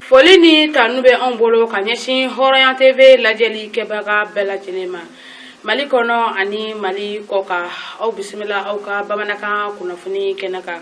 foli ni tanu bɛ anw bolo ka ɲɛsin hɔrɔnya tv lajɛli kɛbaga bɛɛ lajɛlen ma mali kɔnɔ ani mali kɔkan aw bisimila aw ka bamanankan kunnafoni kɛnɛ kan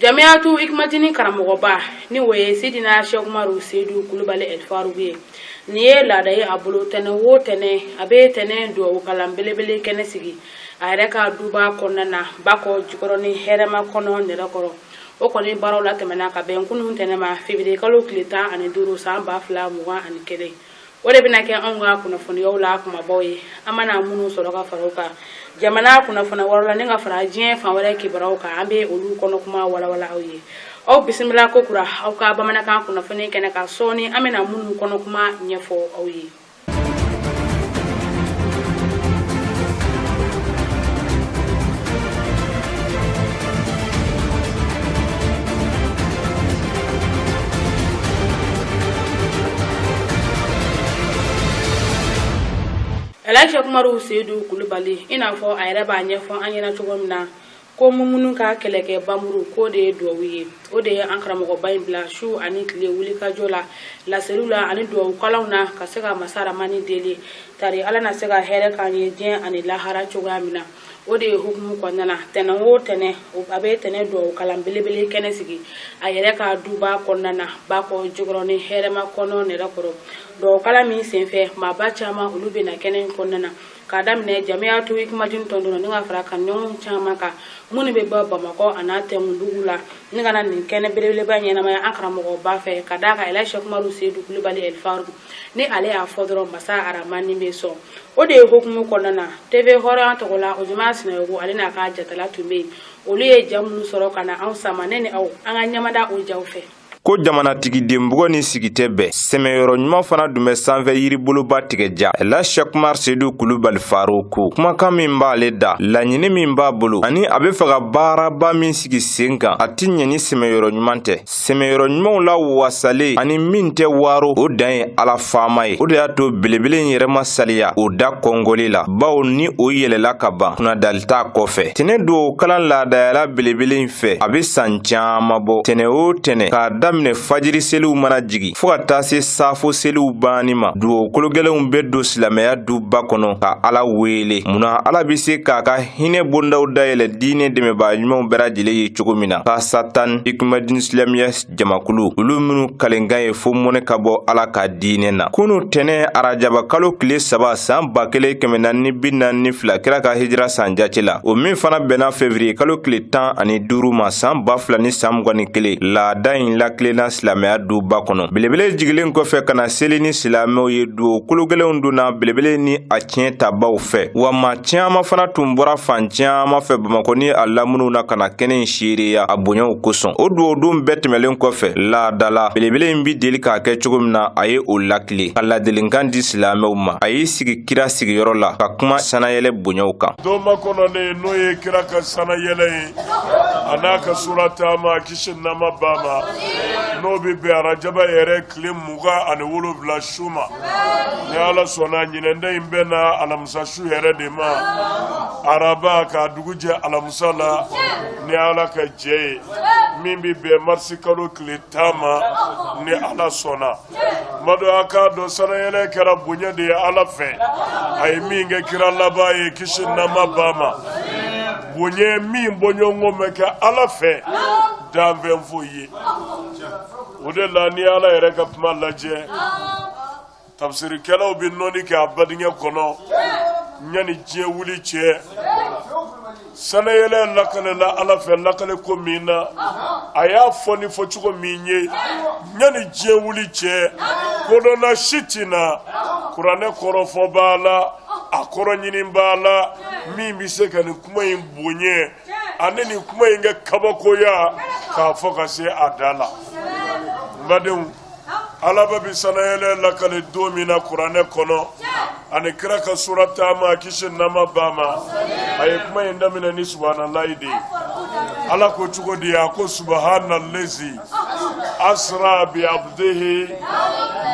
Jamiyatou Hikmatini karamɔgɔba ni o ye Seydina Cheick Oumar Seydou Coulibaly El Faarouk ye nin ye laada ye a bolo tɛnɛn o tɛnɛn a bɛ tɛnɛn duwawu kalan belebele kɛnɛ sigi a yɛrɛ ka duba kɔnɔna na bakɔ jikɔrɔni hɛrɛmakɔnɔ nɛrɛkɔrɔ o kɔni baaraw latɛmɛna ka bɛn kunun tɛnɛn ma février kalo tile tan ani duuru san ba fila mugan ani kelen o de bɛna kɛ anw ka kunnafoniyaw la kumabaw ye an mana minnu sɔrɔ ka fara o kan jamana kunnafoni wɛrɛ la ni ka fara diɲɛ fan wɛrɛ kibaruyaw kan an bɛ olu kɔnɔ kuma walawala aw ye aw bisimila kokura aw ka bamanankan kunnafoni kɛnɛ kan sɔɔni an bɛna minnu kɔnɔ kuma ɲɛfɔ aw ye ɛli sɛkumaru sedu kulubali i n'a fɔ a yɛrɛ b'a ɲɛfɔ an ɲɛna cogo min na ko muminu ka kɛlɛkɛ banmuru ko o de ye duwawu ye o de ye an karamɔgɔba in bila su ani tile wulikajɔ la laseliw la ani duwawu kalanw na ka se ka masa arahamani deli tari ala na se ka hɛrɛ k'an ye diɲɛ ani lahara cogoya min na o de ye hukumu kɔnɔna na tɛnɛn o tɛnɛn a bɛ tɛnɛn duwawu kalan belebele kɛnɛ sigi a yɛrɛ ka duba kɔnɔna na bakɔ jikɔrɔni hɛrɛmakɔnɔ nɛrɛkɔrɔ duwawu kalan min senfɛ maaba caman olu bɛ na kɛnɛ in kɔnɔna na k'a daminɛ Jamiyatou Hikmatini tɔndenw ni ka fara kanuɲɔgɔn caman kan minnu bɛ bɔ bamakɔ an'a tɛmɛdugu la ni ka na nin kɛnɛ belebeleba ɲɛnamaya an karamɔgɔba fɛ ka d'a kan ɛli sɛkumaru sedu kulubali ɛli faru ni ale y'a fɔ dɔrɔn masa arahamani bɛ sɔn o de ye hukumu kɔnɔna na teve hɔrɔnya tɔgɔ la ojuma sinayɔgɔ ale n'a ka jatala tun bɛ yen olu ye ja minnu sɔrɔ ka na anw sama ne ni aw an ka ɲɛmada o jaw fɛ ko jamanatigiden bugɔ ni sigi tɛ bɛn sɛmɛyɔrɔ ɲuman fana dun bɛ sanfɛ yiriboloba tigɛ ja la shɛkumar sedu kulubali faruku kumakan min b'ale da laɲini min b'a bolo ani a be fɛ ka baaraba min sigi sen kan a tɛ ɲɛ ni sɛmɛyɔrɔ ɲuman tɛ sɛmɛyɔrɔ ɲumanw la wasalen ani min tɛ waro o dan ye ala faama ye o de y'a to belebele in yɛrɛ ma saliya o da kɔngɔli la bawo ni o yɛlɛla ka ban kunnadali t'a kɔfɛ tɛnɛ dugaw kalan laadayala belebele in fɛ a be saan caaman bɔ tɛnɛ o tɛnɛ k'a daminɛ fajiri seliw mana jigi fɔɔ ka taa se saafo seliw banni ma dugaw kologɛlɛnw be don silamɛya duba kɔnɔ ka ala weele mun na ala be se k'a ka hinɛ bondaw dayɛlɛ diinɛ dɛmɛbaa ɲumanw bɛɛ lajɛlen ye cogo min na kasatan ikumadin silamɛya jamakulu olu minnu kalenkan ye fo mɔnɛ ka bɔ ala ka diinɛ na kunu tɛnɛ arajaba kalo kile saba saan ba kelen kɛmɛ naani bi naani fila kira ka hijira san jace la o min fana bɛnna fevriye kalo kile tan ani duuru ma saan ba fila ni saan mugan ni kelen laada in lakilenna silamɛya duba kɔnɔ belebele jigilen kɔfɛ ka na seli ni silamɛw ye duwawu kologɛlɛnw donna belebele ni a tiɲɛ tabaw fɛ wa maa caman fana tun bɔra fan caman fɛ bamakɔ ni a lamuniw na ka na kɛnɛ in seereya a bonyaw kosɔn o duwawudon bɛɛ tɛmɛlen kɔfɛ laadala belebele in be deli k'a kɛ cogo min na a ye o lakile ka ladelenkan di silamɛw ma a y'i sigi kira sigiyɔrɔ la ka kuma sanayɛlɛ bonyaw kan don makɔnɔnen n'o ye kira ka sanayɛlɛ ye a n'a ka sura taama kisi nɛɛma b'a ma n'o be bɛn arajaba yɛrɛ tile mugan ani wolonwula su ma ni ala sɔnna ɲinɛn ta in bɛ na alamisa su yɛrɛ de ma araba ka dugu jɛ alamisa la ni ala ka jɛ ye min bɛ bɛn marisi kalo tile tan ma ni ala sɔnna madenw a k'a dɔn sanayɛlɛ kɛra bonya de ye ala fɛ a ye min kɛ kira laban ye kisi nɛɛma b'a ma bonya min bɔɲɔgɔnko ma kɛ ala fɛ danfɛn foyi ye o de la ni ala yɛrɛ ka kuma lajɛ tafsirikɛlaw bɛ nɔnni kɛ a badingɛ kɔnɔ yanni diɲɛ wuli cɛ sanayɛlɛ lakalela ala fɛ lakale ko min na a y'a fɔ ni fɔcogo min ye yanni diɲɛ wuli cɛ kodɔnna si tɛ na kuranɛ kɔrɔfɔbaa la a kɔrɔɲinibaa la min bɛ se ka nin kuma in bonya ani nin kuma in kɛ kabakoya k'a fɔ ka se a da la n badenw alaba bi sanayɛlɛ lakale don min na kuranɛ kɔnɔ ani kira ka sura taama kisi nɛɛma b'a ma a ye kuma in daminɛ ni subahanallahi de ye ala ko cogo di a ko subahanallazi asra bi abdihi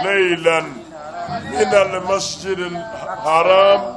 leylan min almasjid haram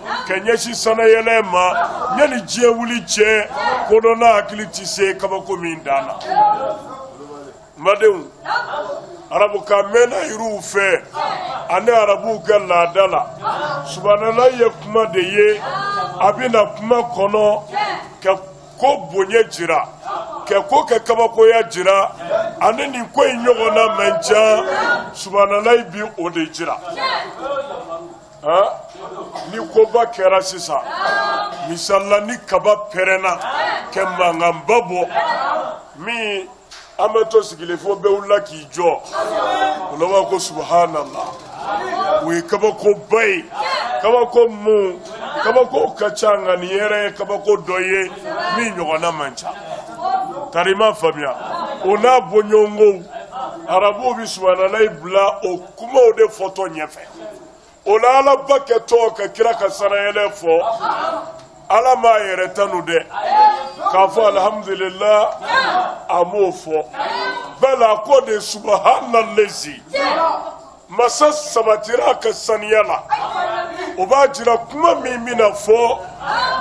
ka ɲɛsin sanayɛlɛ ma yanni diɲɛ wuli cɛ kodɔnna hakili tɛ se kabako min dan na madenw arabukan mɛnna yiriw fɛ ani arabuw ka laada la subahanallahi ye kuma de ye a bɛ na kuma kɔnɔ ka ko bonya jira ka ko kɛ kabakoya jira ani nin ko in ɲɔgɔnna man ca subahanallahi bi o de jira ni koba kɛra sisan misali la ni kaba pɛrɛnna ka mankanba bɔ min an bɛ to sigilen fo bɛɛ wulila k'i jɔ o la b'a ko subahanala o ye kabakoba ye kabako mun kabako ka ca nka nin yɛrɛ ye kabako dɔ ye min ɲɔgɔnna man ca tari i m'a faamuya o n'a bɔɲɔgɔnkow arabuw bɛ subahanalayi bila o kumaw de fɔtɔ ɲɛfɛ o la alaba kɛtɔ ka kira ka sanayɛlɛ fɔ ala m'a yɛrɛ tanu dɛ k'a fɔ alihamudulila a m'o fɔ ba ala ko de subahana lezi masa sabatira a ka saniya la o b'a jira kuma min bɛna fɔ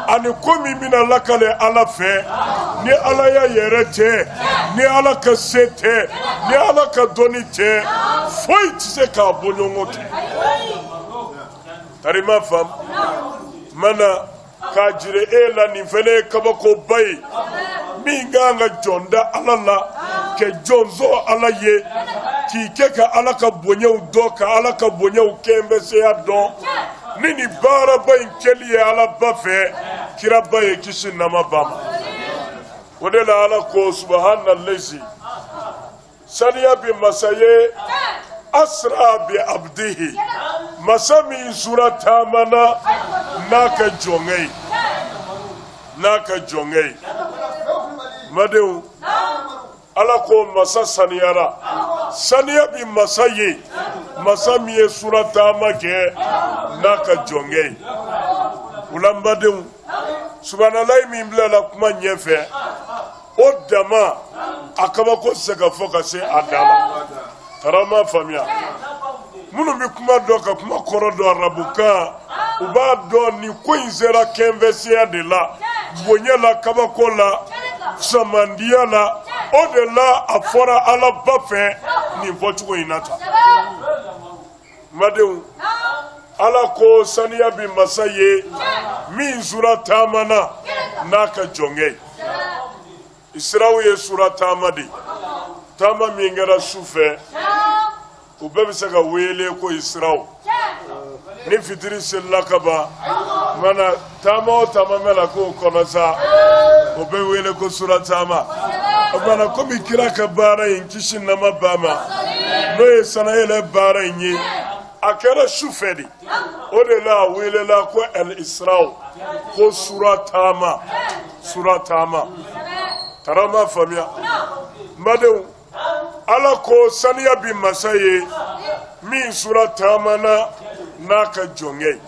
ani ko min bɛna lakali ala fɛ ni ala y'a yɛrɛ tɛ ni ala ka se tɛ ni ala ka dɔnni tɛ foyi tɛ se k'a bɔɲɔgɔn kɛ tari i m'a faamu mana k'a jira i la nin fana ye kabakoba ye min ka kan ka jɔn da ala la ka jɔn sɔn ala ye k'i kɛ ka ala ka bonyaw dɔn ka ala ka bonyaw kɛnbɛseya dɔn ni nin baaraba in kɛli ye ala ba fɛ kiraba ye kisi ni nɛɛma b'a ma o de la ala ko subahana lezi saniya bɛ masa ye asra bi abdihi masa min sura taamana n'a ka jɔnkɛ ye n badenw ala ko masa saniyara saniya bɛ masa ye masa min ye sura taama kɛ n'a ka jɔnkɛ ye o la n badenw subahanalayi min bilala kuma ɲɛfɛ o dama a kabako tɛ se ka fɔ ka se a dan na tari i m'a faamuya minnu bɛ kuma dɔn ka kuma kɔrɔ dɔn arabukan u b'a dɔn nin ko in sera kɛnfɛsiya de la bonya la kabako la samandiya la o de la a fɔra ala ba fɛ nin fɔcogo in na tan n badenw ala ko saniya bɛ masa ye min sura taamana n'a ka jɔnkɛ ye Isirawu ye sura taama de ye taama min kɛra su fɛ o bɛɛ bɛ se ka wele ko isirawu ni fitiri selila ka ban mana taama o taama mana k'o kɔnɔ sa o bɛ wele ko sura taama o mana komi kira ka baara in kisi ni nɛɛma b'a ma n'o ye sanayɛlɛ baara in ye a kɛra su fɛ de o de la a welela ko al isirawu ko sura taama sura taama tarama faamuya n badenw ala ko saniya bi masa ye min sura taamana n'a ka jɔnkɛ ye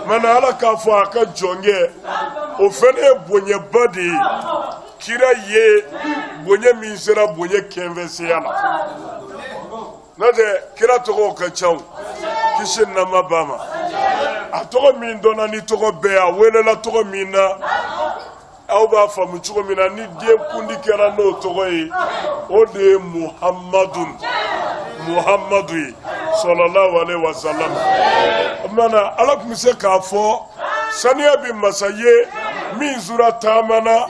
mana ala k'a fɔ a ka jɔnkɛ o fɛnɛ ye bonyaba de ye kira ye bonya min sera bonya kɛnfɛseya la N'o tɛ kira tɔgɔw ka ca kisi ni nɛɛma b'a ma, a tɔgɔ min dɔnna ni tɔgɔ bɛɛ ye, a welela tɔgɔ min na, aw b'a faamu cogo min na, ni den kundi kɛra n'o tɔgɔ ye, o de ye Muhamadu Muhamadu ye salalahu alehi wasalam. O tuma na Ala tun bɛ se k'a fɔ saniya bɛ masa ye min sura taamana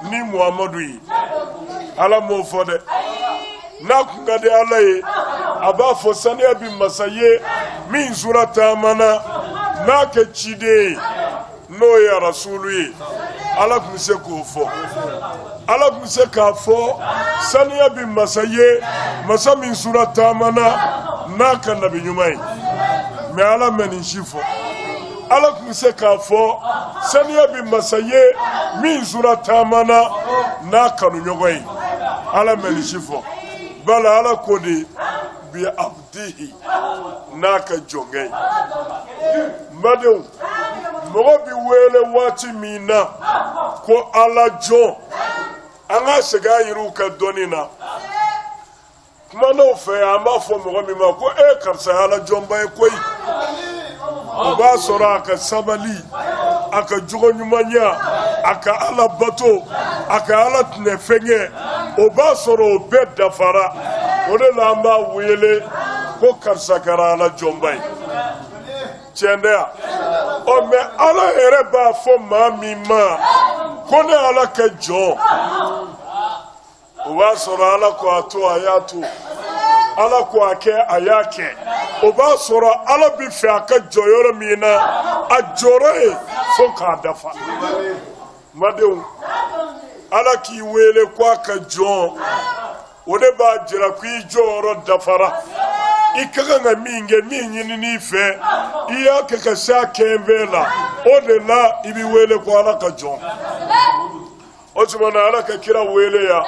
ni Muhamadu ye, Ala m'o fɔ dɛ. n'a kun ka di Ala ye a b'a fɔ saniya bi masa ye min sura taamana n'a ka ciden ye n'o ye arasulu ye Ala tun bɛ se k'o fɔ Ala tun bɛ se k'a fɔ saniya bi masa ye masa min sura taamana n'a ka nabi ɲuman ye mais Ala ma nin si fɔ ala tun bɛ se k'a fɔ saniya bɛ masa ye min sura taamana n'a kanuɲɔgɔn ye ala ma nin si fɔ bala ala ko de bi abdihi n'a ka jɔnkɛ ye n badenw mɔgɔ bɛ wele waati min na ko ala jɔn an ka segin an yɛrɛw ka dɔnni na kuma nɔfɛ an b'a fɔ mɔgɔ min ma ko e karisa ye ala jɔnba ye koyi o b'a sɔrɔ a ka sabali a ka jogo ɲumanya a ka ala bato a ka ala tinɛ fɛn kɛ o b'a sɔrɔ o bɛɛ dafara o de la an b'a wele ko karisa kɛra ala jɔnba ye tiɲɛ tɛ yan ɔ mais ala yɛrɛ b'a fɔ maa min ma ko ne ala ka jɔn o b'a sɔrɔ ala ko a to a y'a to ala ko a kɛ a y'a kɛ o b'a sɔrɔ ala b'a fɛ a ka jɔ yɔrɔ min na a jɔra yen fo k'a dafa n badenw ala k'i wele ko a ka jɔn o de b'a jira ko i jɔyɔrɔ dafara i ka kan ka min kɛ min ɲinina i fɛ i y'a kɛ ka se a kɛnfɛn la o de la i bɛ wele ko ala ka jɔn o tuma na ala ka kira wele yan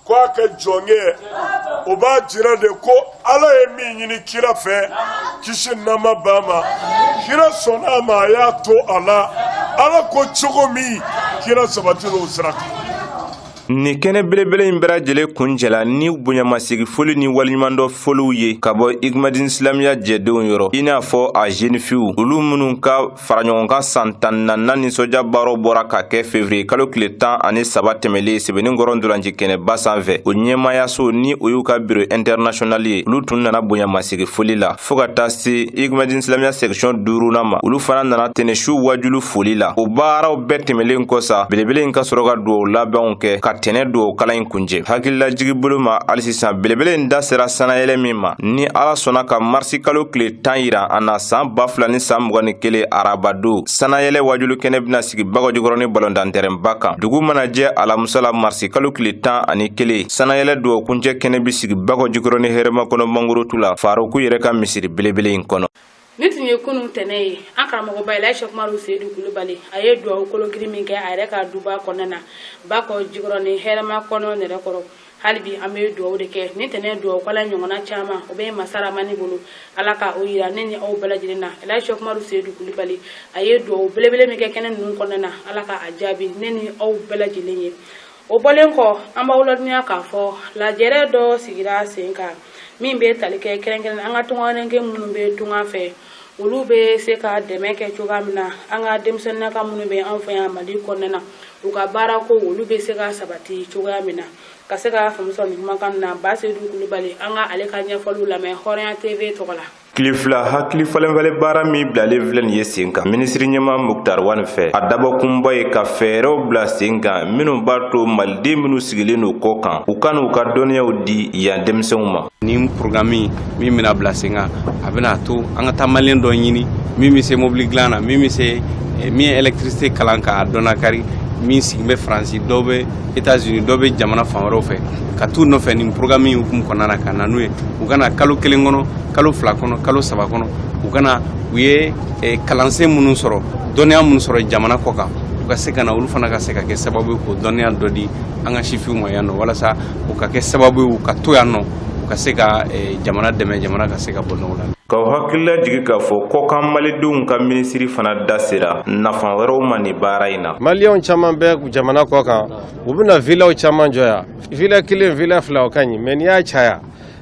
ko a ka jɔnkɛ o b'a jira de ko ala ye min ɲini kira fɛ kisi nama ba ma kira sɔnna a ma a y'a to a la ala ko cogo min kira sabatira o sira kan nin kɛnɛ belebele in bɛɛ lajɛlen kuncɛla ni bonyamasegi foli ni waleɲumandɔn foliw ye ka bɔ igmadin silamiya jɛdenw yɔrɔ i n'a fɔ a zenifiw olu minnu ka faraɲɔgɔnkan san tan ni naaninan nisɔndiya baaraw bɔra ka kɛ fevriye kalo tile tan ani saba tɛmɛlen sɛbɛnikɔrɔ ntolaci kɛnɛba sanfɛ o ɲɛmayaso ni o y'u ka biro intɛrnasionali ye olu tun nana bonyamasegi foli la fɔɔ ka taa se igmadin silamiya sɛkisiɔn duurunan ma olu fana nana tɛnɛsu waajuli foli la o baaraw bɛɛ tɛmɛlen kɔ sa belebele in ka sɔrɔ ka duwaw labanw kɛ ka tɛnɛ duwaw kalan in kuncɛ hakililajigi bolo ma hali sisan belebele in da sera sannayɛlɛn min ma ni ala sɔnna ka marisi kalo tile tan yira an na san ba fila ni san mugan ni kelen arabadon sannayɛlɛn waajuli kɛnɛ bɛna sigi bakɔjikɔrɔni balɔntantɛrɛnba kan dugu mana jɛ alamusa la marisi kalo tile tan ani kelen sannayɛlɛn duwa kuncɛ kɛnɛ bɛ sigi bakɔjikɔrɔni hɛrɛmakɔnɔ mangorotu la faruku yɛrɛ ka misiri belebele in kɔnɔ nin tun ye kunun tɛnɛ ye an karamɔgɔba elaji sɛki umaru seyidu kulubali a ye duwawu kologirin min kɛ a yɛrɛ ka duba kɔnɔna na bakɔjikɔrɔni hɛrɛmakɔnɔ nɛrɛ kɔrɔ hali bi an bɛ dugawu de kɛ ni tɛnɛ dugawu kalan ɲɔgɔnna caman o bɛ masa ramani bolo ala ka o yira ne ni aw bɛɛ lajɛlen na elaji sɛki umaru seyidu kulibali a ye dugawu belebele min kɛ kɛnɛ ninnu kɔnɔna na ala ka a jaabi ne ni aw bɛɛ lajɛlen ye o bɔlen kɔ an b'aw ladɔnniya k'a fɔ lajɛrɛ dɔ sigira sen kan min bɛ tali kɛ kɛrɛnkɛrɛn an ka tungaranke minnu bɛ tunga fɛ olu bɛ se ka dɛmɛ kɛ cogoya min na an ka denmisɛnninnaka minnu bɛ an fɛ yan mali kɔnɔna na u ka baara ko olu bɛ se ka sabati cogoya min na ka se ka faamu sɔrɔ nin kumakan na ba sedu kulubali an ka ale ka ɲɛfɔliw lamɛn hɔrɔnya tv tɔgɔ la tile fila hakili falenfalen baara min bilalen filɛ nin ye sen kan minisiri ɲɛmaa muktar wani fɛ a dabɔkunba ye ka fɛɛrɛw bila sen kan minnu b'a to maliden minnu sigilen don kɔkan u ka n'u ka dɔnniyaw di yan denmisɛnw ma nin porogaramu min bɛna bila sen kan a bɛna to an ka taa maliyɛn dɔ ɲini min bɛ se mobili dilan na min bɛ se eh, min ye ɛlɛkitirisite kalan k'a dɔnna kari min sigin bɛ faransi dɔw bɛ etats unis dɔw bɛ jamana fan wɛrɛw fɛ ka t'u nɔfɛ nin porogaramu hukumu kɔnɔna na ka na n'u ye u ka na kalo kelen kɔnɔ kalo fila kɔnɔ kalo saba kɔnɔ u ka na u ye eh, kalansen minnu sɔrɔ dɔnniya minnu sɔrɔ jamana kɔkan u ka se ka na olu fana ka se ka kɛ sababu ye k'o dɔnniya dɔ di an ka sifinw ma yan nɔ walasa u ka kɛ sababu ye u ka to yan nɔ u ka se ka eh, jamana dɛmɛ jamana ka se ka bɔ nɔgɔ la k'aw hakililajigi k'a fɔ kɔkan malidenw ka minisiri fana da sera nafa wɛrɛw ma nin baara in na maliyɛnw caman bɛ jamana kɔkan u bɛna vilaw caman jɔ yan vila kelen vila fila o ka ɲi mais n'i y'a caya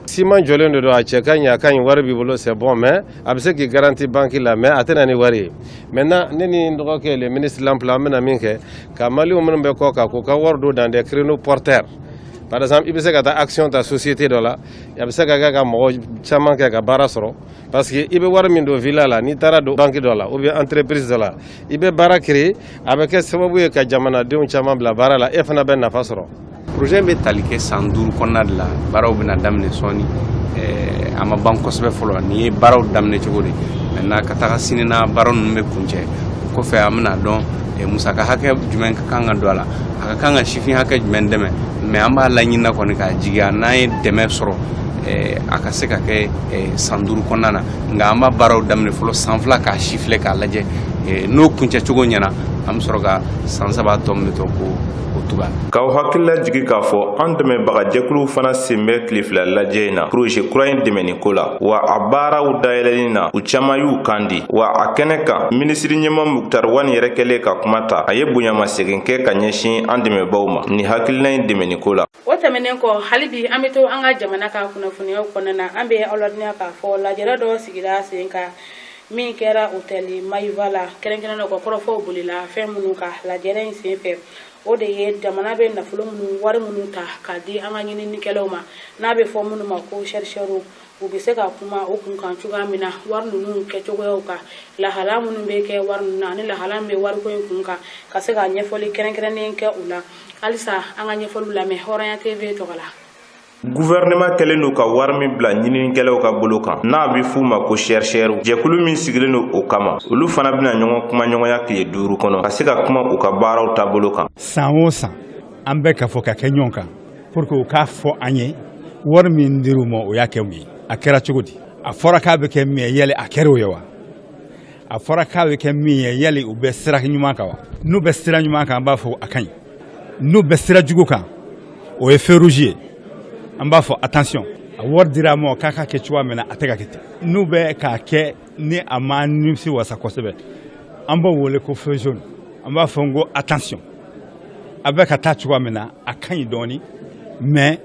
siman jɔlen de don a cɛ ka ɲi a ka ɲi wari b'i bolo c'est bon mais a bɛ se k'i garanti banki la mais a tɛ na ni wari ye maintenant ne ni n dɔgɔkɛ le ministre l'emploi an bɛna min kɛ Ka maliyɛnw minnu bɛ kɔ kan k'u ka wari don dans des créneaux porteurs par exemple i bɛ se ka taa action ta société dɔ la a bɛ se ka kɛ ka mɔgɔ caman kɛ ka baara sɔrɔ parce que i bɛ wari min don villa la n'i taar'a don banque dɔ la ou bien entreprise dɔ la i bɛ baara créer a bɛ kɛ sababu ye ka jamanadenw caman bila baara la e fana bɛ nafa sɔrɔ projet bɛ tali kɛ san duuru kɔnɔna de la baaraw bɛna daminɛ sɔɔni eh, a ma ban kosɛbɛ fɔlɔ nin ye baaraw daminɛ cogo de maintenant ka taga sini na baara ninnu bɛ kuncɛ o kɔfɛ an bɛna dɔn eh, musaka hakɛ jumɛn ka kan ka don a la a ka kan ka sifin hakɛ jumɛn dɛmɛ mais an b'a laɲinina kɔni k'a jigiya n'an ye dɛmɛ sɔrɔ eh, a ka se ka kɛ san duuru kɔnɔna na nka an b'a baaraw daminɛ fɔlɔ san fila k'a sifilɛ k'a lajɛ n'o kuncɛ cogo ɲɛna an bɛ sɔrɔ ka san saba tɔ min bɛ to ko K'aw hakili lajigin k'a fɔ an dɛmɛbagajɛkuluw fana sen bɛ tile fila lajɛ in na projet kura in dɛmɛni ko la wa a baaraw dayɛlɛli na u caman y'u kan di wa a kɛnɛ kan minisiri ɲɛmaa muktar wani yɛrɛ kɛlen ka kuma ta a ye bonyamasegin kɛ ka ɲɛsin an dɛmɛbaw ma ni hakilina in dɛmɛni ko la o tɛmɛnen kɔ hali bi an bɛ to an ka jamana ka kunnafoniyaw kɔnɔna na an bɛ aw ladɔnniya k'a fɔ lajɛrɛ dɔ sigira sen kan min kɛra otɛli mayiva la kɛrɛnkɛrɛnnen kɔ kɔrɔfɔw bolila fɛn minnu kan lajɛrɛ in sen fɛ o de ye jamana bɛ nafolo minnu wari minnu ta k'a di an ka ɲininikɛlaw ma n'a bɛ fɔ minnu ma ko chercheurw u bɛ se ka kuma o kun kan cogoya min na wari ninnu kɛcogoyaw kan lahala minnu bɛ kɛ wari ninnu na ani lahala min bɛ wariko in kun kan ka se ka ɲɛfɔli kɛrɛnkɛrɛnnen kɛ u la halisa an ka ɲɛfɔliw lamɛn hɔrɔnya tv tɔgɔ la Guvɛrɛnɛma kɛlen don ka wari min bila ɲininikɛlaw ka bolo kan n'a bɛ f'u ma ko chercheurw jɛkulu min sigilen don o kama olu fana bɛna ɲɔgɔn kumaɲɔgɔnya tile duuru kɔnɔ ka se ka kuma u ka baaraw taabolo kan san o san an bɛ ka fɔ ka kɛ ɲɔgɔn kan pour que u k'a fɔ an ye wari min dir'u ma u y'a kɛ mun ye a kɛra cogo di a fɔra k'a bɛ kɛ min ye yali a kɛra o ye wa a fɔra k'a bɛ kɛ min ye yali u bɛ sira ɲuman kan wa n'u bɛ sira ɲuman kan an b'a fɔ a ka ɲi n'u bɛ sira jugu kan o ye feu rouge ye an b'a fɔ attention a wari dira a ma k'a k'a kɛ cogoya min na a tɛ ka kɛ ten n'u bɛ k'a kɛ ni a ma nimisiwasa kosɛbɛ an b'o wele ko feu jaune an b'a fɔ n ko attention a bɛ ka taa cogoya min na a ka ɲi dɔɔni mais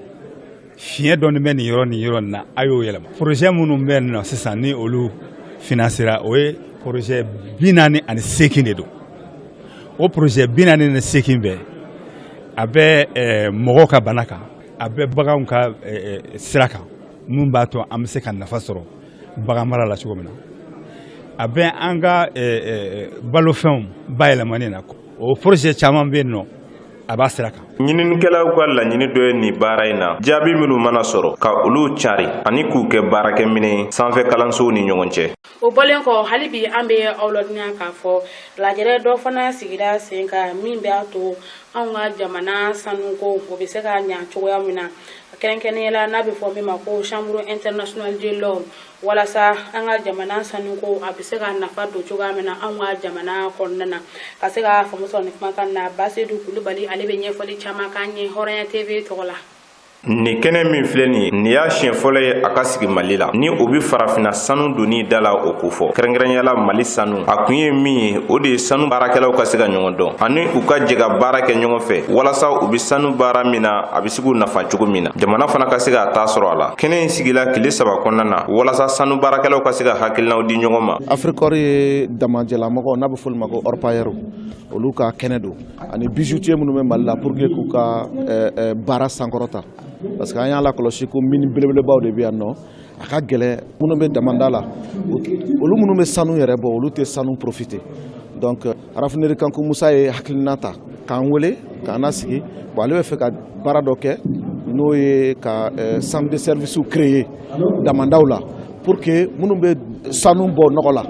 fiɲɛ dɔɔni bɛ nin yɔrɔ nin yɔrɔ nin na a y'o yɛlɛma projet minnu bɛ nin na sisan ni olu financéra o ye projet bi naani ani seegin de don o projet bi naani ni seegin bɛɛ a bɛ eh, mɔgɔw ka bana kan a bɛ baganw ka eh, eh, sira kan mun b'a to an bɛ se ka nafa sɔrɔ bagan mara la cogo min na a bɛ an ka eh, eh, balofɛnw bayɛlɛmani na o projet caman bɛ yen nɔ a b'a sira kan ɲininikɛlaw ka laɲini dɔ ye nin baara in na jaabi minnu mana sɔrɔ ka olu cari ani k'u kɛ baarakɛminɛn sanfɛkalansow ni ɲɔgɔn cɛ o bɔlen kɔ hali bi an bɛ aw ladɔnniya k'a fɔ lajɛrɛ dɔ fana sigira sen kan min b'a to anw ka jamana sanuko o bɛ se ka ɲa cogoya min na kɛrɛnkɛrɛnyala n'a bɛ fɔ min ma ko chambre internationale de l'or walasa an ka jamana sanuko a bɛ se ka nafa don cogoya min na anw ka jamana kɔnɔna na ka se ka faamu sɔrɔ nin kumakan na basedu kulubali ale bɛ ɲɛfɔli caman k'an ye hɔrɔnya tv tɔgɔ la nin kɛnɛ min filɛ nin ye nin y'a siɲɛ fɔlɔ ye a ka sigi mali la ni o be farafinna sanu donni da la o kofɔ kɛrɛnkɛrɛnyala mali sanu a kun ye min ye o de ye sanu baarakɛlaw ka se ka ɲɔgɔn dɔn ani u ka jɛ ka baara kɛ ɲɔgɔn fɛ walasa u be sanu baara min na a be se k'u nafa cogo min na jamana fana ka se k'a ta sɔrɔ a la kɛnɛ in sigila kile saba kɔnɔna na walasa sanu baarakɛlaw ka se ka hakilinaw di ɲɔgɔn ma afrikɔr ye damajɛlamɔgɔw n'a bɛ f'olu ma ko orpailleurs olu ka kɛnɛ don ani bijoutiers minnu bɛ mali la pour que k'u ka eh, eh, baara sankɔrɔta parce que an y'a lakɔlɔsi ko mini belebelebaw de bɛ yan nɔ a ka gɛlɛn minnu bɛ damanda la olu minnu bɛ sanu yɛrɛ bɔ olu tɛ sanu profiter donc euh, raffinerie kanku musa ye hakilina ta k'an wele k'an nasigi bon ale bɛ fɛ ka baara dɔ kɛ n'o ye ka euh, centre de service créer damandaw la pour que minnu bɛ sanu bɔ nɔgɔ la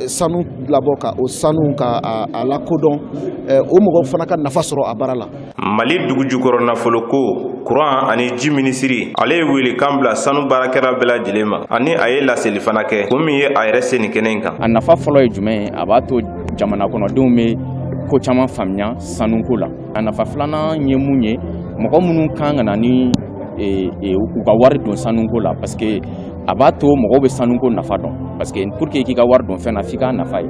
sanu labɔ ka o sanu ka a lakodɔn euh, o mɔgɔw fana ka nafa sɔrɔ a baara la mali dugujukɔrɔ nafolo ko kuran ani ji minisiri ale ye welekan bila sanu baarakɛla bɛɛ lajɛlen ma ani a ye laseli fana kɛ ko min ye a yɛrɛ se nin kɛnɛ in kan a nafa fɔlɔ ye jumɛn ye a b'a to jamana kɔnɔdenw bɛ ko caman faamuya sanuko la a nafa filanan ye mun ye mɔgɔ minnu kan ka na ni e, e, u ka wari don sanuko la parce que a b'a to mɔgɔw bɛ sanuko nafa dɔn parce que pour que k'i ka wari don fɛn na f'i k'a nafa ye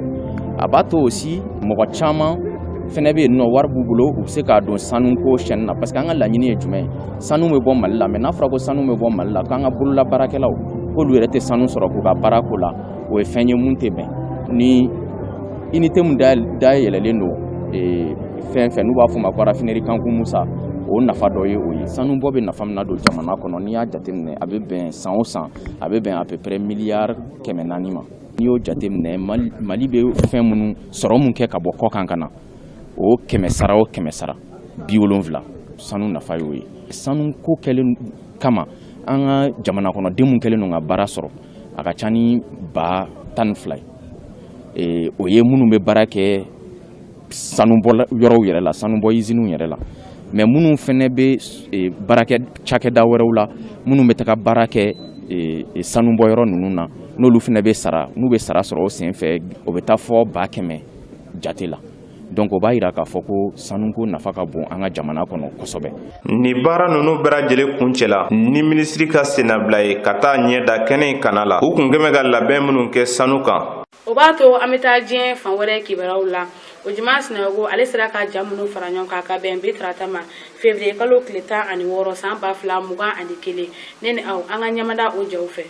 a b'a to aussi mɔgɔ caman fɛnɛ bɛ yen nɔ wari b'u bolo u bɛ se k'a don sanuko chaîne na parce que an ka laɲini ye jumɛn ye sanu bɛ bɔ mali la mais n'a fɔra ko sanu bɛ bɔ mali la k'an ka bololabaarakɛlaw k'olu yɛrɛ tɛ sanu sɔrɔ k'u ka baara k'o la o ye fɛn ye mun tɛ bɛn ni unité mun dayɛlɛlen don fɛn fɛn n'u b'a fɔ ma ko raffinerie kanku musa o nafa dɔ ye o ye sanubɔ bɛ nafa min nadon jamana kɔnɔ n'i y'a jateminɛ a bɛ bɛn san o san a bɛ bɛn à peu près miliyari kɛmɛ naani ma n'i y'o jateminɛ mali bɛ fɛn minnu sɔrɔ min kɛ ka bɔ kɔkan ka na o kɛmɛ sara o kɛmɛ sara biwolonwula sanu nafa y'o ye sanu ko kɛlen kama an ka jamana kɔnɔden minnu kɛlen don ka baara sɔrɔ a ka ca ni ba tan ni fila ye o ye minnu bɛ baara kɛ sanubɔ yɔrɔw yɛrɛ la sanubɔ iziniw yɛrɛ la mais minnu fɛnɛ bɛ e, baara kɛ cakɛda wɛrɛw la minnu bɛ taga baara kɛ e, e, sanubɔ yɔrɔ ninnu na n'olu fɛnɛ bɛ sara n'u bɛ sara sɔrɔ o sen fɛ o bɛ taa fɔ ba kɛmɛ jate la donc o b'a yira k'a fɔ ko sanuko nafa ka bon an ka jamana kɔnɔ kosɛbɛ ni baara nunu bɛɛ lajɛlen kuncɛla ni minisiri ka sennabila ye ka taa ɲɛ da kɛnɛ in kana la u kun kɛmɛ ka labɛn minnu kɛ sanu kan o b'a to an bɛ taa diɲɛ fan wɛrɛ kibaruyaw la ojuma sinayogo ale sera ka ja minnu fara ɲɔgɔn kan ka bɛn bi tarata ma fevriye kalo tile tan ani wɔɔrɔ san ba fila mugan ani kelen ne ni aw an ka ɲɛmada o jaw fɛ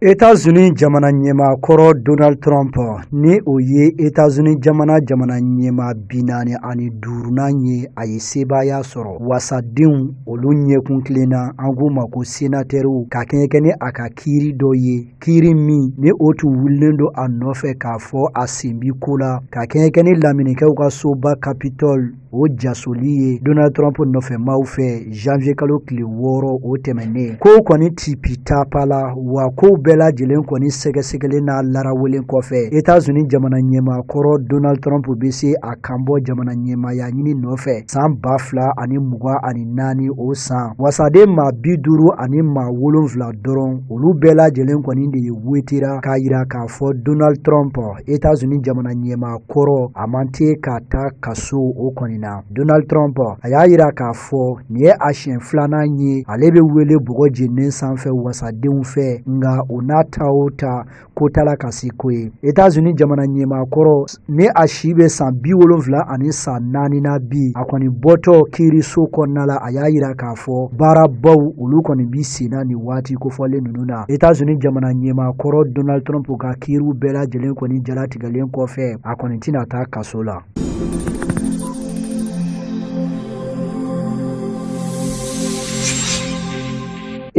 Etazini jamana ɲɛmaa kɔrɔ Donald Trump ni o ye Etazini jamana jamana ɲɛmaa bi naani ani duurunan ye a ye sebaaya sɔrɔ wasadenw olu ɲɛkun tilenna an k'u ma ko senatɛriw ka kɛɲɛ kɛ ni a ka kiiri dɔ ye kiiri min ni o tun wulilen don a nɔfɛ k'a fɔ a sen bi ko la ka kɛɲɛ kɛ ni lamerikɛnw ka soba Capitol o jasoli ye donald trump nɔfɛ maaw fɛ janvier kalo tile wɔɔrɔ o tɛmɛnnen kow kɔni tipitapala wa kow bɛɛ lajɛlen kɔni sɛgɛsɛgɛlen n'a larawelen kɔfɛ etats unis jamana ɲɛmaa kɔrɔ donald trump be se a kanbɔ jamana ɲɛmaaya ɲini nɔfɛ san ba fila ani mugan ani naani o san wasaden maa bi duuru ani maa wolonfila dɔrɔn olu bɛɛ lajɛlen kɔni de ye wotera k'a yira k'a fɔ donald trump etats unis jamana ɲɛmaa kɔrɔ a man tɛ ka taa kaso o kɔni na donald trump a y'a yira k'a fɔ nin ye a siɲɛ filanan ye ale bɛ wele bɔgɔ jeninen sanfɛ wasadenw fɛ nka o n'a ta o ta ko t'a la ka se ko ye etazini jamana ɲɛmaa kɔrɔ ni a si bɛ san bi wolonfila ani san naani na bi a kɔni bɔtɔ kiiriso kɔnɔna la a y'a yira k'a fɔ baarabaw olu kɔni bi senna nin waati kofɔlen ninnu na etazini jamana ɲɛmaa kɔrɔ donald trump ka kiiriw bɛɛ lajɛlen kɔni jalatigɛ len kɔfɛ a kɔni tɛna taa kaso la.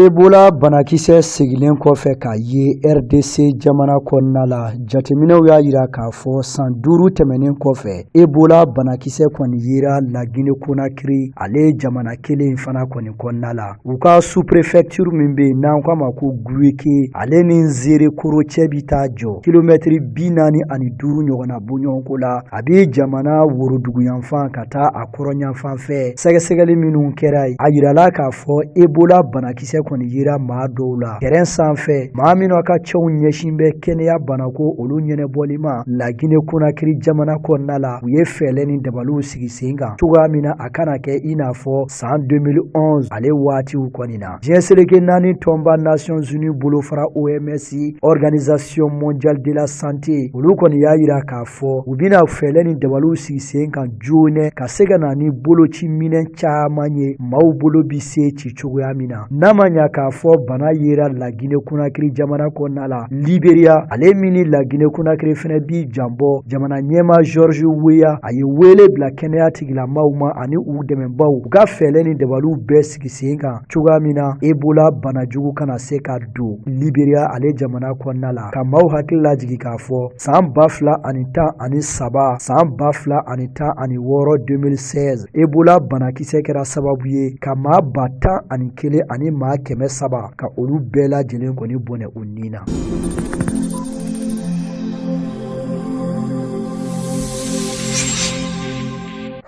Ebola banakisɛ segilen kɔfɛ ka ye RDC jamana kɔnɔna la jateminɛw y'a yira k'a fɔ san duuru tɛmɛnen kɔfɛ Ebola banakisɛ kɔni yera La Guinée Conakry ale jamana kelen fana kɔni kɔnɔna la u ka sous-préfecture min bɛ yen n'an k'a ma ko guweke ale ni nzerekore cɛ bɛ taa jɔ kilomɛtiri bi naani ani duuru ɲɔgɔnna bɔɲɔgɔnko la a bɛ jamana woroduguyanfan ka taa a kɔrɔnyanfan fɛ sɛgɛsɛgɛli minnu kɛra yen a yirala k'a fɔ ebola banakisɛ kɔni yera maa dɔw la tɛrɛn sanfɛ maa minnu ka ciw ɲɛsin bɛ kɛnɛya banako olu ɲɛnɛbɔli ma lagine konakiri jamana kɔnɔna la u ye fɛɛlɛ ni dabaliw sigi sen kan cogoya min na a kana kɛ i n'a fɔ san 2011 ale waatiw kɔni na diɲɛ seleke naani tɔnba nations unies bolofara oms organisation mondiale de la santé olu kɔni y'a yira k'a fɔ u bɛna fɛɛlɛ ni dabaliw sigi sen kan joonɛ ka se ka na ni boloci minɛn caman ye maaw bolo bi se ci cogoya min na n'a ma ɲa k'a fɔ bana yera lagine konakiri jamana kɔnɔna la liberiya ale min ni lagine konakiri fɛnɛ bi danbɔ jamana ɲɛmaa george weah a ye weele bila kɛnɛya tigilamaw ma ani u dɛmɛbaw u ka fɛɛlɛ ni dabaliw bɛɛ sigi sen kan cogoya min na ebola bana jugu kana se ka don liberiya ale jamana kɔnɔna la ka maaw hakili lajigi k'a fɔ san ba fila ani tan ani saba san ba fila ani tan ani wɔɔrɔ 2016 ebola banakisɛ kɛra sababu ye ka maa ba tan ani kelen ani maa kɛmɛ saba ka olu bɛɛ lajɛlen kɔni bɔnɛ u ni na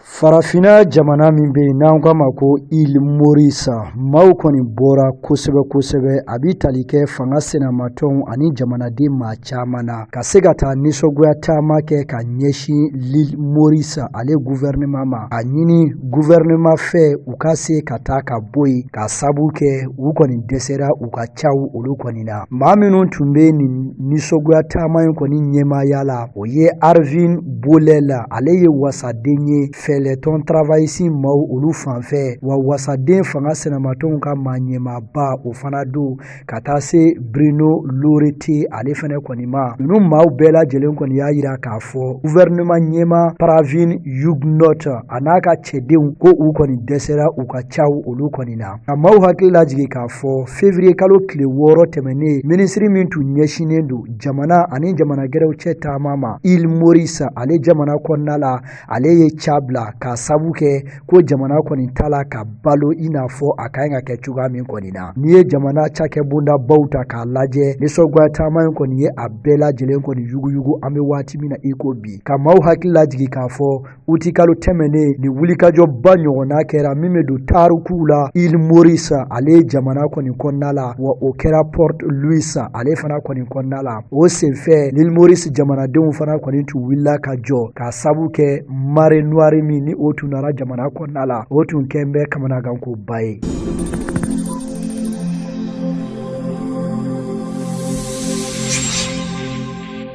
farafinna jamana min bɛ yen n'an k'a ma ko île maurice maaw kɔni bɔra kosɛbɛ kosɛbɛ a bɛ tali kɛ fanga sinamatɔnw ani jamanaden maa caman na ka se ka taa nisɔngoya taama kɛ ka ɲɛsin l'île maurice ale guvɛrɛnema ma k'a ɲini guvɛrɛnema fɛ u ka se ka taa ka bɔ yen k'a sabu kɛ u kɔni dɛsɛra u ka caw olu kɔni na maa minnu tun bɛ nin nisɔngoya taama in kɔni ɲɛmaaya la O ye Arvin Boolell ale ye wasaden ye fɛɛlɛtɔn travailliste maaw olu fanfɛ wa wasaden fanga sinamatɔnw ka maa ɲɛmaaba o fana don ka taa se Bruno Laurette ale fana kɔni ma ninnu maaw bɛɛ lajɛlen kɔni y'a yira k'a fɔ gouvernement ɲɛmaa Pravind Jugnauth a n'a ka cɛdenw ko u kɔni dɛsɛra u ka caw olu kɔni na ka maaw hakili lajigi k'a fɔ fevriye kalo tile wɔɔrɔ tɛmɛnen minisiri min tun ɲɛsinnen don jamana ani jamana gɛrɛw cɛ taama ma île maurice ale jamana kɔnɔna la ale ye ca bila k'a sabu kɛ ko jamana kɔni t'a la ka balo i n'a fɔ a ka ɲi ka kɛ cogoya min kɔni na n'i ye jamana cakɛ bondabaw ta k'a lajɛ nisɔngoya taama in kɔni ye a bɛɛ lajɛlen kɔni yuguyugu an bɛ waati min na i ko bi ka maaw hakili lajigi k'a fɔ uti kalo tɛmɛnen nin wulikajɔba ɲɔgɔnna kɛra min bɛ don tarikuw la île maurice ale jamana kɔni kɔnɔna la wa o kɛra port louis ale fana kɔni kɔnɔna la o senfɛ l'île maurice jamanadenw fana kɔni tun wulila ka jɔ k'a sabu kɛ marée noire min ni o tun nara jamana kɔnɔna la o tun kɛn bɛ kamanagankoba ye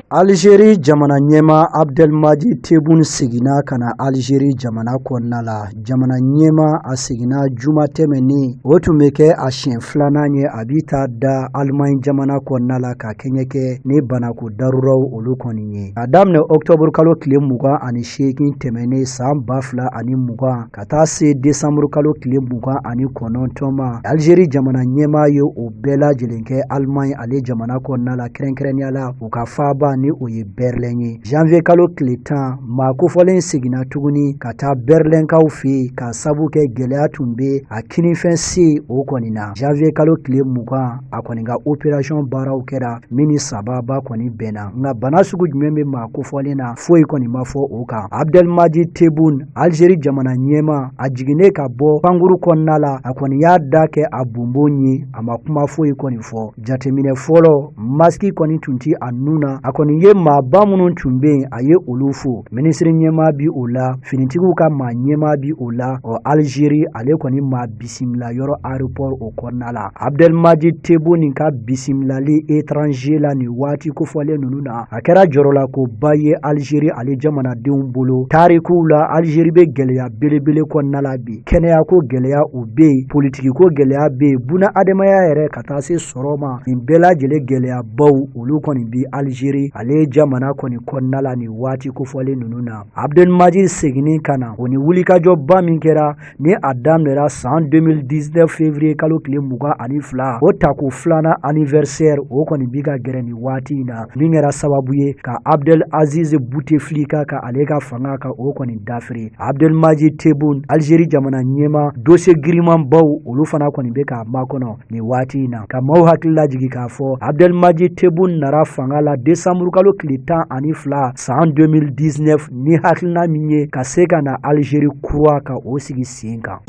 Alizeri jamana ɲɛma Abdɛlimaji Tebun seginna ka na Alizeri jamana kɔnɔna la jamana ɲɛma a seginna juma tɛmɛnen o tun bɛ kɛ a siɲɛ filanan ye a bi taa da Alimaɲi jamana kɔnɔna la ka kɛɲɛ kɛ ni banako daruraw olu kɔni ye a daminɛ ɔkutɔburukalo tile mugan ani seegin tɛmɛnen san ba fila ani mugan ka taa se desanburu kalo tile mugan ani kɔnɔntɔn ma alizeri jamana ɲɛmaa ye o bɛɛ lajɛlen kɛ alimaɲi ale jamana kɔnɔna la kɛrɛnkɛrɛnnenya la u ka faaba ni o ye bɛrɛlɛn ye janviye kalo tile tan maa kofɔlen seginna tuguni ka taa bɛrɛlɛnkaw fɛ k'a sabu kɛ gɛlɛya tun bɛ a kininfɛ sen o kɔni na janviye kalo tile mugan a kɔni ka operasiyɔn baaraw kɛra min ni sababa kɔni bɛnna nka bana sugu jumɛn bɛ maa kofɔlen na foyi kɔni ma fɔ o kan abdɛlimaji tebun alizeri jamana ɲɛma a jiginnen ka bɔ pankuru kɔnɔna la a kɔni y'a da kɛ a bonbon ye a ma kuma foyi kɔni fɔ jateminɛ fɔlɔ masiki kɔni tun tɛ a nun na a kɔni ye maaba minnu tun bɛ yen a ye olu fo minisiri ɲɛma bi o la finitigiw ka maa ɲɛma bi o la ɔ alizeri ale kɔni maa bi bisimila yɔrɔ aéroport o kɔnɔna la Abdɛlmaji Tebun ka bisimilali étranger la nin waati kofɔlen ninnu na a kɛra jɔrɔlakoba ye Algérie ale jamanadenw bolo tarikuw la Algérie bɛ gɛlɛya belebele kɔnɔna la bi kɛnɛyako gɛlɛya o bɛ yen politikiko gɛlɛya bɛ yen buna adamaya yɛrɛ ka taa se sɔrɔ ma nin bɛɛ lajɛlen gɛlɛyabaw olu kɔni bi Algérie ale jamana kɔni kɔnɔna la nin waati kofɔlen ninnu na Abdɛlmaji seginni ka na o ni wulikajɔba min kɛra ni a daminɛra san 2019 février kalo tile mugan ani fila o tako filanan anniversaire o kɔni bi ka gɛrɛ nin waati in na min kɛra sababu ye ka abdel aziz bouteflika ka ale ka fanga ka o kɔni dafiri abdelmaji tebun algérie jamana ɲɛma dossier girimanbaw olu fana kɔni bɛ k'a makɔnɔ nin waati in na ka maaw hakili lajigi k'a fɔ abdɛlimaji tebun nara fanga la desanburukalo tile tan ani fila san 2019 ni hakilina min ye ka se ka na alizeri kura ka o sigi sen kan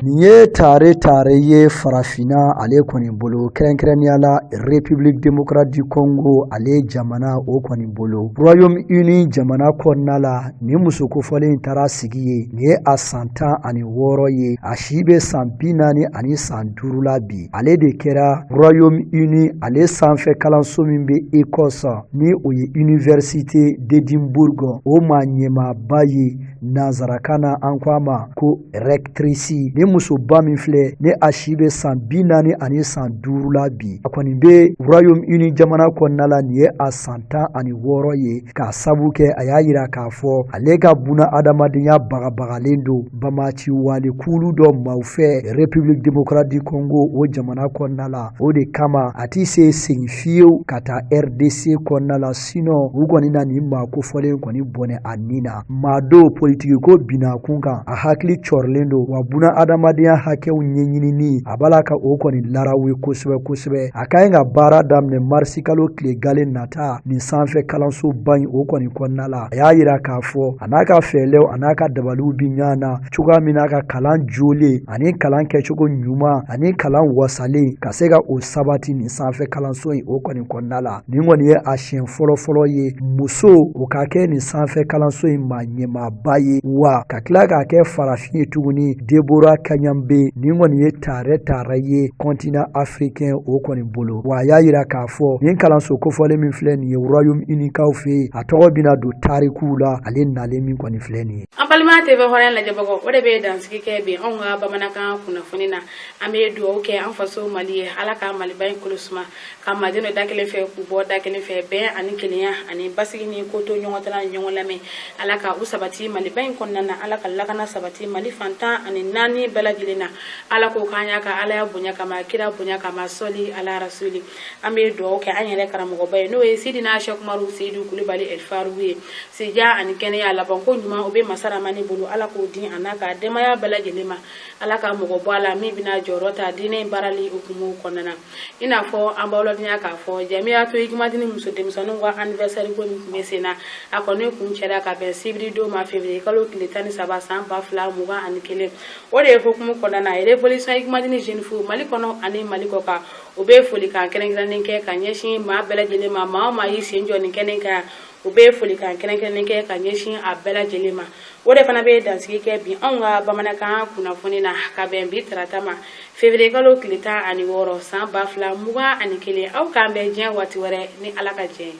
nin ye tare tare ye farafinna ale kɔni bolo kɛrɛnkɛrɛnnenya la république démocrate du congo ale jamana o kɔni bolo royaume uni jamana kɔnɔna la nin muso kofɔlen taara sigi yen nin ye a san tan ani wɔɔrɔ ye a si bɛ san bi naani ani san duuru la bi ale de kɛra royaume uni ale sanfɛ kalanso min bɛ écosse ni o ye université d'édimbourg o maa ɲɛmaaba ye nanzarakan na an ko a ma ko rɛktirisi ni musoba min filɛ ni a si bɛ san bi naani ani san duuru la bi a kɔni bɛ royaume uni jamana kɔnɔna la nin ye a san tan ani wɔɔrɔ ye k'a sabu kɛ a y'a yira k'a fɔ ale ka buna adamadenya bagabagalen don banbaganci wale kulu dɔ maaw fɛ république démocratique du congo o jamana kɔnɔna la o de kama a ti se segin fiyew ka taa rdc kɔnɔna la sinɔn u kɔni na nin maa kofɔlen kɔni bɔnɛ a ni na maa don politiki ko binna kun kan a hakili cɔrilen don wa buna adamadenya hakɛw ɲɛɲinini a b'a la ka o kɔni larawe kosɛbɛ kosɛbɛ a ka ɲi ka baara daminɛ marisi kalo tile gale nata nin sanfɛ kalansoba in o kɔni kɔnɔna la a y'a yira k'a fɔ a n'a ka fɛɛlɛw a n'a ka dabaliw bi ɲɔgɔn na cogoya min na ka kalan jolen ani kalan kɛcogo ɲuman ani kalan wasalen ka se ka o sabati nin sanfɛ kalanso in o kɔni kɔnɔna la nin kɔni ye a siɲɛ fɔlɔfɔlɔ ye muso o ka kɛ nin sanfɛ kalanso in maa ɲɛmaaba ye wa ka tila k'a kɛ farafin ye tuguni debora kayembe nin kɔni ye taarɛ taarɛ ye continent africain o kɔni bolo wa a y'a yira k'a fɔ nin kalanso kofɔlen min filɛ nin ye royaume unikaw fɛ yen a tɔgɔ bɛna don tarikuw la ale nalen min kɔni filɛ nin ye an balima tv hɔrɔnya lajɛbagaw o de bɛ dansigi kɛ bi anw ka bamanankan kunnafoni na an bɛ dugawu kɛ an faso mali ye ala ka maliba in kolo suma ka maaw jɛ da kelen fɛ k'u bɔ da kelen fɛ bɛn ani kelenya ani basigi ni kotoɲɔgɔntala ni ɲɔgɔn lamɛn ala ka u sabati maliba in kɔnɔna na ala ka lakana sabati mali fan tan ani naani bɛɛ lajɛlen na ala k'o k'an y'a ka alaya bonya kama kira bonya kama sɔli ala rasuli an bɛ dugawu kɛ an yɛrɛ karamɔgɔba ye n'o ye sidina sɛkumaru seyidu kulibali ɛlifarugu ye sijan ani kɛnɛya laban ko ɲuman o bɛ masa ramani bolo ala k'o di a n'a ka denbaya bɛɛ lajɛlen ma ala ka mɔgɔ bɔ a la min bɛna jɔyɔrɔ ta diinɛ in baarali hukumu kɔnɔna na i n'a fɔ an b'aw ladɔnya k'a fɔ jamiyatu ikimadini muso denmisɛnninw ka anniversaire ko min tun bɛ sen na a kɔni kuncɛra ka bɛn sibiri don ma février kalo tile tan ni saba san ba fila mugan ani kelen o de ye hukumu kɔnɔna na révolution ikimadini jeune fillew mali kɔnɔ ani mali kɔkan u bɛ folikan kɛrɛnkɛrɛnnen kɛ ka ɲɛsin maa bɛɛ lajɛlen ma maa o maa y'i sen jɔ nin kɛnɛ kan u bɛ folikan kɛrɛnkɛrɛnnen kɛ ka ɲɛsin a bɛɛ lajɛlen ma o de fana bɛ dansigi kɛ bi anw ka bamanankan kunnafoni na ka bɛn bi tarata ma février kalo tile tan ani wɔɔrɔ san ba fila mugan ani kelen aw k'an bɛn diɲɛ waati wɛrɛ ni ala ka diɲɛ ye